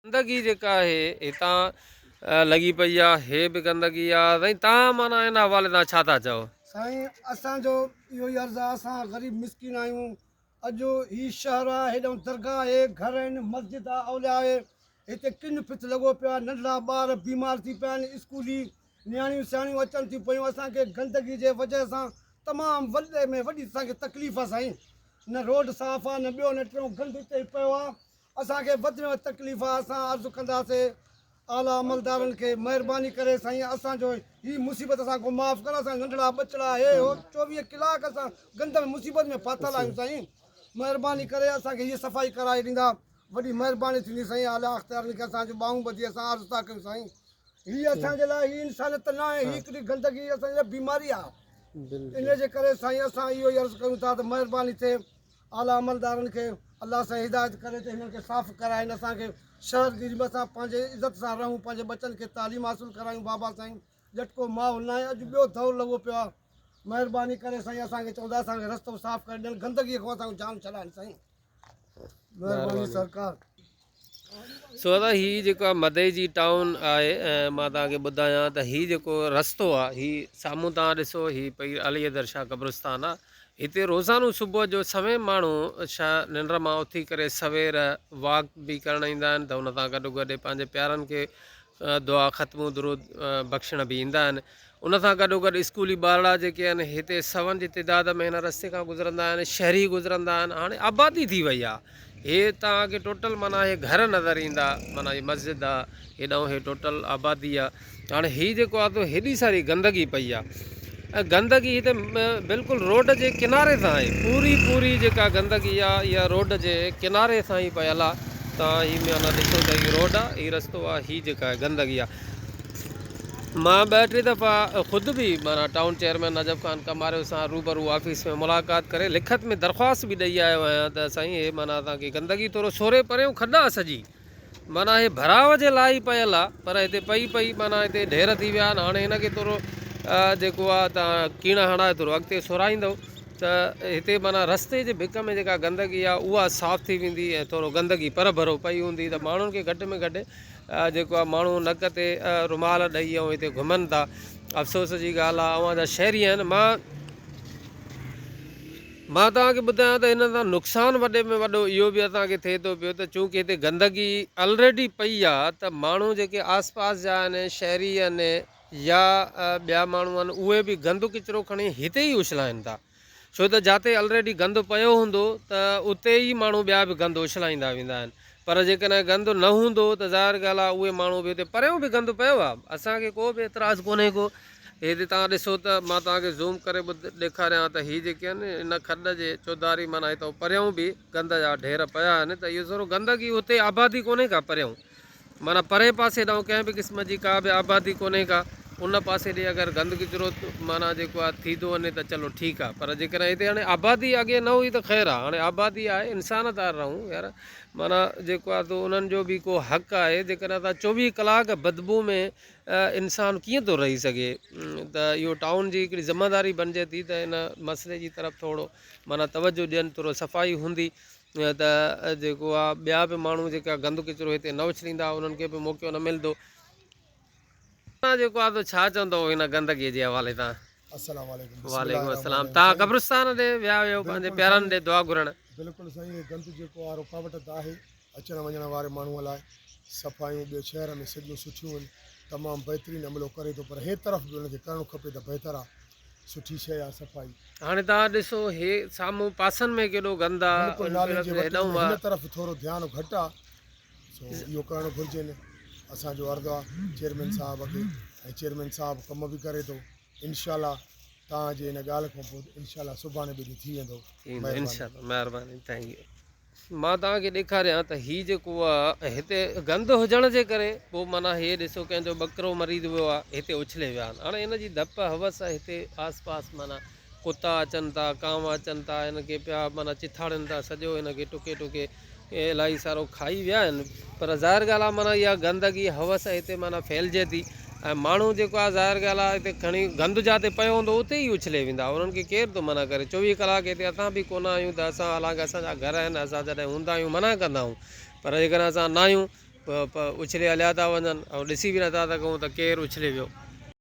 گندگي جيڪا آهي هتان لڳي پئي آ هي به گندگي آ سائين تان معنيٰ ان حوالي سان ڇا ٿا چئو. سائين اسان جو اهو ئي عرض آ اسان غريب مسڪين آهيون اڄ هي شهر آ هيڏانهن درگاهه آهي گهر آهن مسجد آ اولياء آهي هتي ڪن ڦٿ لڳو پيو آ ننڍڙا ٻار بيمار ٿي پيا آهن اسڪولي نياڻيون سياڻيون اچن ٿيون پيون اسان کي گندگي جي وجهه سان تمام وڏي ۾ وڏي اسان کي تڪليف آ سائين نه روڊ صاف آ نه ٻيو نه ٽيون گند هتي پيو آ اسان کي وڌيون ۽ تڪليفا اسان عرض ڪنداسي اعليٰ عملدارن کي مهرباني ڪري سائين اسان جو هي مصيبت اسان کان معاف ڪر اسان ننڍڙا ٻچڙا هي هو چوويهه ڪلاڪ اسان گندڙ مصيبت ۾ ڦاٿل آهيون سائين مهرباني ڪري اسان کي هي صفائي ڪرائي ڏيندا وڏي مهرباني ٿيندي سائين اعليٰ اختيارن کي اسان جو ٻانهون ٻڌي اسان عرض ٿا ڪيون سائين هي اسان جي لاء هي انسانيت ته ناهي هي هڪڙي گندگي اسان جي لاء بيماري آهي ان جي ڪري سائين اسان اهو ئي عرض ڪيون ٿا ته مهرباني ٿئي اعليٰ عملدارن کي الله سان هدايت ڪري ته هنن کي صاف ڪرائين اسان کي شهر جي ريم سان پنهنجي عزت سان رهون پنهنجي ٻچن کي تعليم حاصل ڪرايون بابا سائين ڄٽڪو ماحول ناهي اڄ ٻيو دور لڳو پيو آهي مهرباني ڪري سائين اسان کي چوندا اسان کي رستو صاف ڪري ڏين گندگي کان اسان کي جان ڇڏائين سائين مهرباني سرڪار. سو دادا هي جيڪا مدئي جي ٽائون آهي مان توهان کي ٻڌايان ته هي جيڪو رستو آهي هي سامهون توهان ڏسو هي پئي علي حيدر شاهه قبرستان آهي هتي روزانو صبح جو سوين ماڻهو شا ننڊ مان اٿي ڪري سوير واڪ به ڪرڻ ايندا آهن ته ان سان گڏو گڏ پنهنجي پيارن کي دعا ختمون درود بخشڻ به ايندا آهن ان سان گڏو گڏ اسڪولي ٻارڙا جيڪي آهن هتي سون جي تعداد ۾ هن رستي کان گذرندا آهن شهري گذرندا آهن هاڻي آبادي ٿي وئي آهي هي تان کي ٽوٽل معنی هي گهر نظر ايندا معنی هي مسجد آهي هيڏانهن هي ٽوٽل آبادي آهي هاڻي هي جيڪو آهي سو هيڏي ساري گندگي پئي آهي گندگي هتي بلڪل روڊ جي ڪناري سان آهي پوري پوري جيڪا گندگي آ اها روڊ جي ڪناري سان ئي پيل آ ته هي ميانا ڏسو ته هي روڊ آ هي رستو آ هي جيڪا آهي گندگي آ مان ٻه ٽي دفعا خود به مانا ٽائون چيئرمين نجف خان ڪماريو سان روبرو آفيس ۾ ملاقات ڪري لکت ۾ درخواست به ڏئي آيو آهيان ته سائين هي مانا اسان کي گندگي ٿورو سوري پريون کڏا سڄي معنيٰ هي ڀراء جي لاء ئي پيل آ پر هتي پئي پئي معنيٰ هتي ڍير ٿي ويا آهن هاڻي هن کي ٿورو جيڪو آ تان ڪيڻا هڻائي ٿورو اڳتي سورائيندؤ ته هتي معنيٰ رستي جي ڀڪ ۾ جيڪا گندگي آ اها صاف ٿي ويندي ۽ ٿورو گندگي پر ڀرو پئي هوندي ته ماڻهن کي گهٽ ۾ گهٽ جيڪو آ ماڻهو نڪ تي رومال ڏئي ۽ هتي گهمن ٿا افسوس جي ڳالهه آ اوهان جا شهري آهن مان مان توهان کي ٻڌايان ته هنن سان نقصان وڏي ۾ وڏو اهو به اسان کي ٿئي ٿو پيو ته چونڪه هتي گندگي الريڊي پئي آ ته ماڻهو جيڪي آس پاس جا آهن شهري آهن يا ٻيا ماڻهو آهن اهي به گند ڪچرو کڻي هتي ئي اڇلائين ٿا ڇو ته جاتي الريڊي گند پيو هوندو ته اتي ئي ماڻهو ٻيا به گند اڇلائيندا ويندا آهن پر جيڪڏهن گند نه هوندو ته ظاهر ڳالهه آ اهي ماڻهو به اتي پريون به گند پيو آ اسان کي ڪو به اعتراض ڪونهي ڪو هي جي توهان ڏسو ته مان توهان کي زوم ڪري ڏيکاريان ها ته هي جيڪي آهن ان کڏ جي چوڌاري معنيٰ هتئون پريائون به گند جا ڍير پيا آهن ته اهو سورو گندگي هتي آبادي ڪونهي ڪا پريائون معنيٰ پرئين پاسي ڏانهن ڪنهن به قسم جي ڪا به آبادي ڪونهي ڪا ان پاسي ڏي اگر گند ڪچرو معنيٰ جيڪو آهي ٿي ٿو وڃي ته چلو ٺيڪ آهي پر جيڪڏهن هتي هاڻي آبادي اڳي نه هئي ته خير آهي هاڻي آبادي آهي انسان ٿا رهون يار معنيٰ جيڪو آهي تو انهن جو به ڪو حق آهي جيڪڏهن توهان چوويهه ڪلاڪ بدبو ۾ انسان ڪيئن ٿو رهي سگهي ته اهو ٽائون جي هڪڙي ذمه داري بنجي ٿي ته ان مسئلي جي طرف ٿورو معنيٰ توجه ڏين ٿورو صفائي هوندي ته جيڪو آ ٻيا به ماڻهو جيڪا گند ڪچرو هتي نه اڇليندا انهن کي به موقعو نه ملندو تان جيڪو آ تو ڇا چوندو هن گندگي جي حوالي تان السلام عليڪم بسم الله وعليڪم الرحمن السلام تان الرحيم قبرستان تي ويا هيو پنهنجي بلڪل پيارن سائين ڏي دعا گهرڻ بلڪل سائين هي گند جيڪو آ رڪاوٽ ته آهي اچڻ وڃڻ واري ماڻهوء لاء صفايون ٻيو شهر ۾ سڌيون سٺيون هن تمام بهترين عملو ڪري ٿو پر هي طرف به ان کي ڪرڻو کپي ته بهتر آ سٺي شئي آ صفائي. هاڻي توهان ڏسو هي سامهون پاسن ۾ ڪيڏو گند آ. بلڪل نالين جي وٽ ۾ هن طرف ٿورو ڌيان گهٽ آ سو اهو ڪرڻ گهرجين اسان جو عرض آ چيئرمين صاحب کي ۽ چيئرمين صاحب ڪم به ڪري ٿو انشاء الله توهان جي ان ڳالهه کان پوء انشاء الله سڀاڻي ٻيجو ٿي ويندو مهرباني. مهرباني ٿينڪ يو. مان توهان کي ڏيکاريان ته هي جيڪو آ هتي گند هجڻ جي ڪري پوء معنيٰ هي ڏسو ڪنهن جو ٻڪرو مريض ويو آ هتي اڇلي ويا آهن هاڻي هن جي ڌپ هوس هتي آس پاس معنيٰ ڪتا اچن ٿا ڪانوا اچن ٿا هن کي پيا معنيٰ چٿاڙين ٿا سڄو هن کي ٽڪي ٽڪي الائي سارو کائي ويا آهن پر ظاهر ڳالهه آ معنيٰ اها گندگي هوس هتي معنيٰ ڦهلجي ٿي ۽ ماڻهو جيڪو آهي ظاهر ڳالهه آهي هتي کڻي گند جاتي پيو هوندو اتي ئي اڇلي ويندا انهن کي ڪير ٿو منع ڪري چوويهه ڪلاڪ هتي اسان به ڪونه آهيون ته اسان حالانڪه اسان جا گهر آهن اسان جڏهن هوندا آهيون منع ڪندا آهيون پر جيڪڏهن اسان نه آهيون اڇلي هليا ٿا وڃن ۽ ڏسي به نٿا سگهون ته ڪير اڇلي ويو.